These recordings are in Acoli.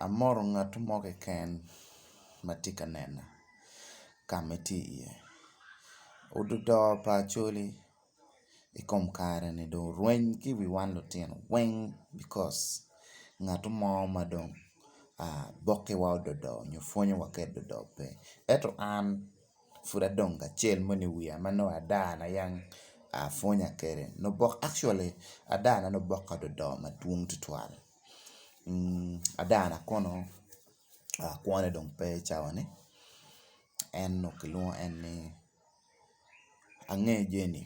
Amoro ngat mo keken ma tye ka nena ka ma itye iye. Ododoo pa Acholi i kom kare ni dong orweny ki i wi wan lutino weng bicos ngat mo ma dong bokiwa ododoo nyo pwonyowa ka ododoo pe ento an pud adong kacel mo ni wiya ma nongo ada na yang apwonya kwede actually ada na nongo oboka ododoo madwong tutwal. ada na kono kwo ne dong pe i cawa ni en onongo kilwongo en ni ange Jenny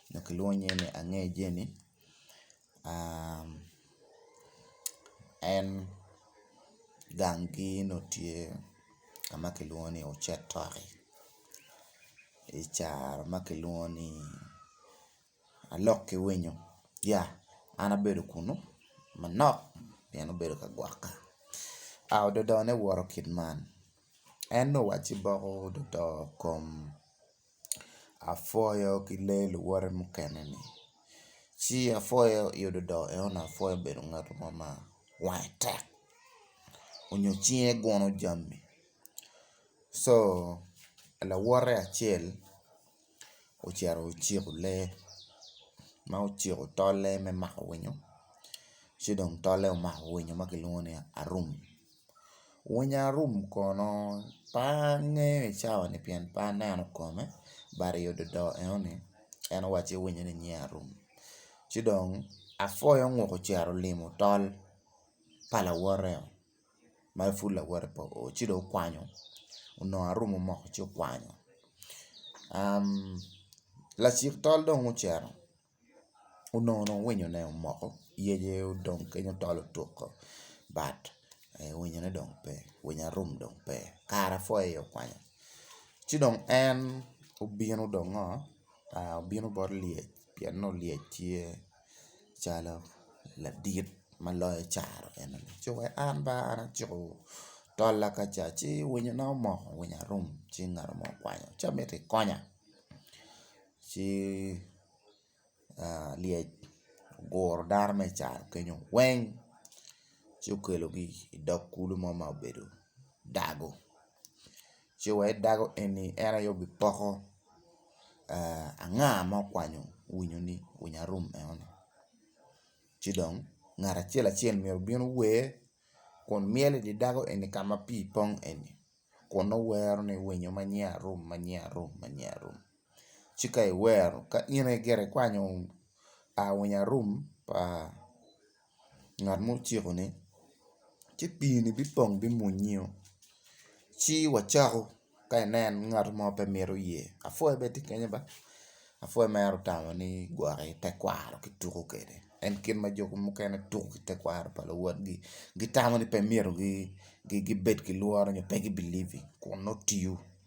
onongo kilwongo nying ni ange Jenny en gang gi onongo tye ka ma kilwongo ni ocetoki i caro ma kilwongo ni alok ki winyo ya an abedo kunu manok pien obedo ka gwoka a ododo ne woto kit man en ni owacci boko ododo kom apwoyo ki lee luwote mukene ni ci apwoyo i ododo enoni apwoyo obedo ngat mo ma wange tek onyo cinge gunu jami lawote acel ocito ociko lee ma ociko tolle me mako winyo ci dong tolle omako winyo ma kilwongo ni arum winyo arum kono pe angeyo i cawa ni pien pe aneno kome but i odado enoni en owacci winyo ni nyinge arum ci dong apwoyo ngut ocito olimo tol pa lawote-o. ma pud lawote pe oo ci dong okwanyo onongo arumo moko ci okwanyo lacik tol dong ocito onongo dong winyone omoko yece odong kenyo tol otuko but winyone dong pe winyo arum dong pe kare apwoyo aye okwanyo ci dong en obino dong ngo obino bot lyec pien nongo lyec tye. calo ladit ma loyo caro en aye cuk aye an ba an aciko tola ka ca ci winyo na omoko winyo arum ci ngat mo okwanyo ci amiti ikonya ci lyec oguro dano ma i caro kenyo weng ci okelogi idog kulu mo ma obedo dago. ci wa i dago eni en aye obipoko anga ma okwanyo winyo ni winyo arum eno ni ci dong ngat acel acel myero obin ower kun myel idi dago eni ka ma pii pong eni kun nongo wero ni winyo ma nyiya arum ma nyiya arum ma nyiya arum ci ka iwero ka in aye gire ikwanyo winyo arum pa ngat ma ociko ni ci pii ni bipong bimunyi oo ci wacako ka inen ngat mo pe mito ye apwoi bene tye kenyo ba apwoi mere otamo ni gwok i tekwaro ki tuko kwede en kit ma jo mukene tuko ki tekwaro pa luwotgi gitamo ni pe myero gibed ki lworo nyo pe gi believe kun nongo tiyo.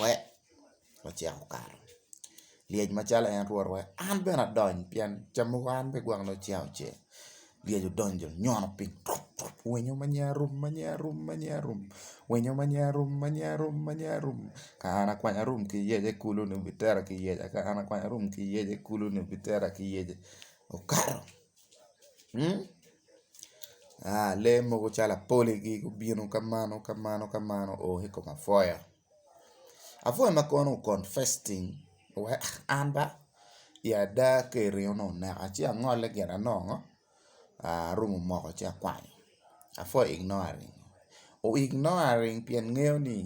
Wek ocek okato lyec macalo en twero wek an bene adony pien cam mogo an bene gwok nongo ceng ocek lyec odonyo onyono piny tup tup winyo ma nyinge arum ma nyinge arum ma nyinge arum winyo ma nyinge arum ma nyinge arum ma nyinge arum ka an akwanya arum ki yece kulu ni obitera ki yece ka an akwanya arum ki yece kulu ni obitera ki yece okato Lee mogo calo apoli gubino ka mano ka mano ka mano oo ki i kom apwoya, apwoya ma kono confesting an ba i ada ka iringo ni oneka ci angole gin anongo arumo moko ci akwanyo apwoya o ignore ring o ignore ring pien ngeyo ni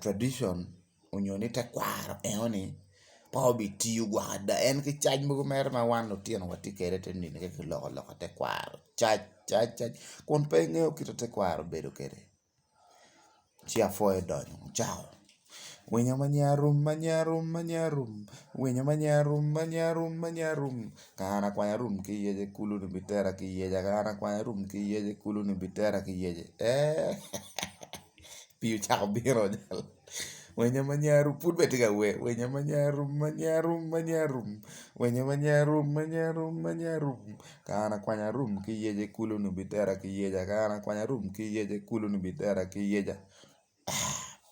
tradition. onyo ni tekwaro enoni pe obitiyo gwok ada en ki caij mogo mere ma wan lutino watye kwede te nino ki loko loka tekwaro caj caj caj kun pe ingeyo kit ma tekwaro bedo kwede ci apwoyo donyo cawa winyo ma nyinge arum ma nyinge arum ma nyinge arum winyo ma nyinge arum ma nyinge arum ma nyinge arum ka an akwany arum ki yec i kulu ni bitera ki yec ka an akwany arum ki yec i kulu ni bitera ki yec eeh. pii ocako bino winyo ma nya rum pud bene tye ka wer winyo ma nya rum ma nya rum ma nya rum winyo ma nya rum ma nya rum ma nya rum ka an akwanya rum ki yece kulu nongo bitera ki yeca ka an akwanya rum ki yece kulu nongo bitera ki yeca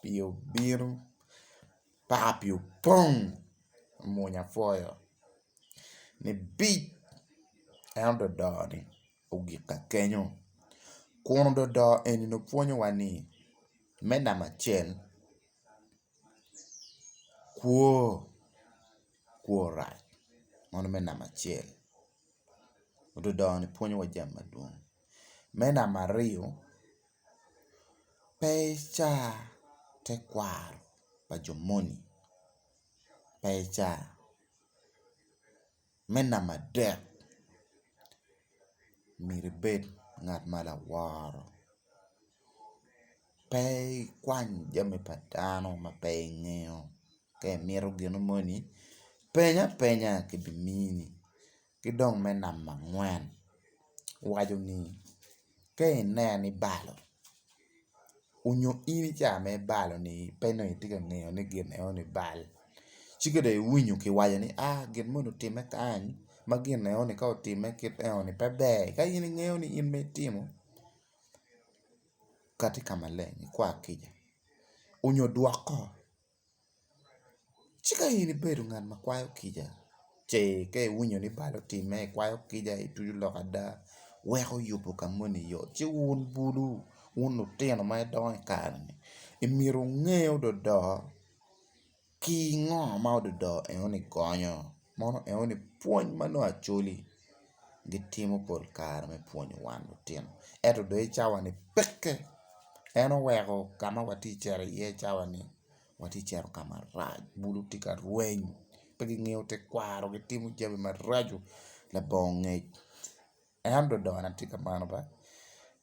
pii obino paka pii opong mwonya pwoyo ni bic en ododoo ni. ogik ka kenyo. Kun ododo eni ni pwonyowa ni me namba acel kwo kwo orac meno me namba acel ododo ni pwonyowa jami madwong. Me namba aryo pe ica tekwaro pa jo moni pe ica Me namba adek myero ibed ngat ma laworo pe ikwany jami pa dano ma pe ingeyo ka imito gin moni peny apenya kibimini ki dong me namba angwen waco ni ka ineno ibalo onyo in i cawa me bal ni pe nongo itye ka ngeyo ni gin eno ni bal ci ka dong iwinyo ki waco ni a gin moni otime kany ma gin eno ni ka otime kit eno ni pe ber ka in ingeyo ni in ma itimo kati ka maleng ikwa kica onyo dwoko Ci ka in ibedo ngat ma kwayo kica ce ka iwinyo ni bal otime ikwayo kica ituco lok ada weko yubo ka moni yot ci wun bulu wun lutino ma idongo i kare-ni myero wunge ododo ki ngo ma ododo eno ni gonyo mono eno ni pwony ma nongo acwali. gitimo pol kare me pwonyo wan lutino ento dong i cawani peke en oweko ka ma watye ka cito iye i cawani watye ka cito ka marac bulu tye ka rweny pe gingeyo tekwaro gitimo jami maraco labongo ngec en dong dogona tye kamano ba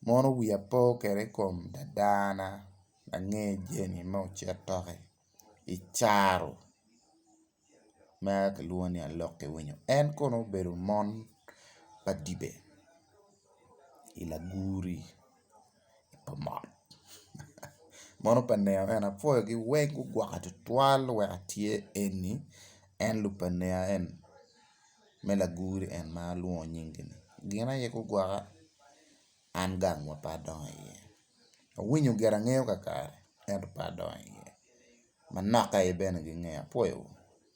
mono wiya pe kwede i kom dadana ange jami ma ocito ki i caro. meno kilwongo ni alokke winyo en kono obedo mon pa dibe i lagwuri pa mot mono pa nen eni apwoyogi weng gugwokke tutwal wek atye eni en lub pa nen eni me lagwuri eni ma alwongo nyingi-ni gin aye gugwokke. an gang ma pe adongo iye, awinyo gira angeyo kakare ento pe adongo iye, manokaye bene gingeya apwoyo wa.